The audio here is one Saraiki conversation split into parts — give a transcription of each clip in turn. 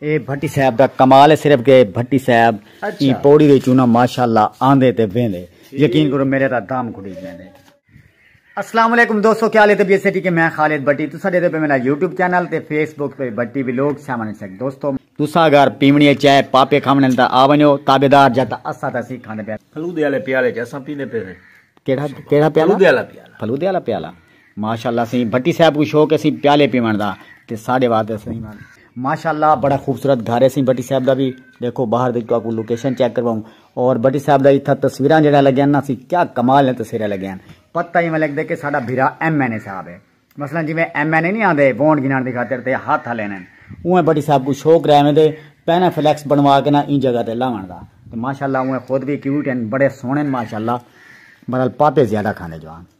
اے بھٹی صاحب دا کمال ہے صرف کہ بھٹی صاحب ایں پوڑی دے چونا ماشاءاللہ آندے تے ویندے یقین کرو میرے تا دام گھٹی جیندے السلام علیکم دوستو کیا لے طبیعت سے ٹھیک میں خالد بھٹی تسا دے دے پہ میرا یوٹیوب چینل تے فیس بک تے بھٹی ویلوگ سیون سیک دوستو تسا اگر پیمنی چائے پاپے کھاونے تا آ ونیو تابیدار جا تا اسا تا سی کھاندے پیا پھلو دے والے پیالے چ اسا پیندے پے کیڑا کیڑا پیالہ پھلو دے والا پیالہ پھلو دے والا پیالہ ماشاءاللہ سئیں بھٹی صاحب کوں شوق ہے سئیں پیالے پیوݨ دا تے ساڈے واسطے سئیں۔ ماشاءاللہ بڑا خوبصورت گھر ہے سئیں بھٹی صاحب دا وی ݙیکھو باہر وچ تہاکوں لوکیشن چیک کرواؤں اور بھٹی صاحب دا اتھاں تصویراں جیڑھیاں لگیاں نا سئیں کیا کمال نے تصویراں لگیاں ہن پتہ ایویں لگدے کہ ساڈا بھرا ایم این اے صاحب ہے مثلا جیویں ایم این اے نی آندے وونٹ گھنݨ دی خاطر تے ہتھ ہلیندن اونویں بھٹی صاحب کوں شوق رہے ویندے پیناں فلیکس بݨوا کے نا ایں جگہ تے لاوݨ دا تے ماشاءاللہ اونویں خود وی کیوٹ ہن بڑے سوہݨے ہن ماشاءاللہ بہرحال پاپے زیادہ کھاندے جوان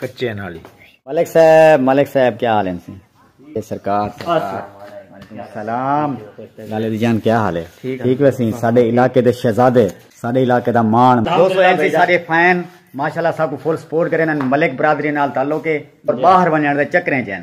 کچے نالی۔ ملک صاحب ملک صاحب کیا حال ہیں سی اے سرکار سلام لالے دی جان کیا حال ہے ٹھیک ہے سی ساڈے علاقے دے شہزادے ساڈے علاقے دا مان دوستو ایم سی ساڈے فین ماشاءاللہ ساکو فل سپورٹ کرے نن ملک برادری نال تعلق ہے اور باہر ونجن دے چکریں چن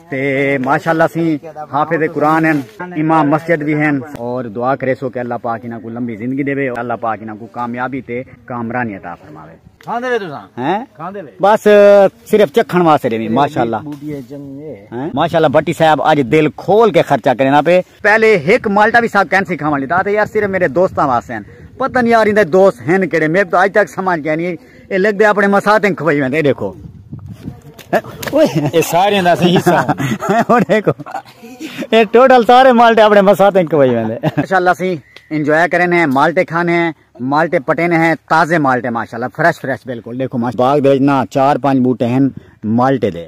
تے ماشاءاللہ سی حافظ قرآن ہیں امام مسجد بھی ہیں اور دعا کرے سو کہ اللہ پاک انہاں کو لمبی زندگی دے اور اللہ پاک انہاں کو کامیابی تے کامرانی عطا فرماوے کھاندے وے تساں ہیں کھاندے وے بس صرف چکھن واسطے دے ماشاءاللہ ماشاءاللہ بٹی صاحب اج دل کھول کے خرچہ کرنا پے پہلے ایک مالٹا بھی صاحب کین سکھاون لیتا تے یار صرف میرے دوستاں واسطے ہیں پتہ نہیں یار ایندے دوست ہیں کیڑے میں تو اج تک سمجھ گیا نہیں اے لگ دے اپنے مساتیں کھوائی ویندے دیکھو اے سارے دا صحیح حصہ او دیکھو اے ٹوٹل سارے مالٹے اپنے مساتیں کھوائی ویندے ماشاءاللہ سی انجوائے کرن ہیں مالٹے کھانے ہیں مالٹے پٹینے ہیں تازے مالٹے ماشاءاللہ فریش فریش بالکل دیکھو ماشاءاللہ باغ دے نا چار پانچ بوٹے ہیں مالٹے دے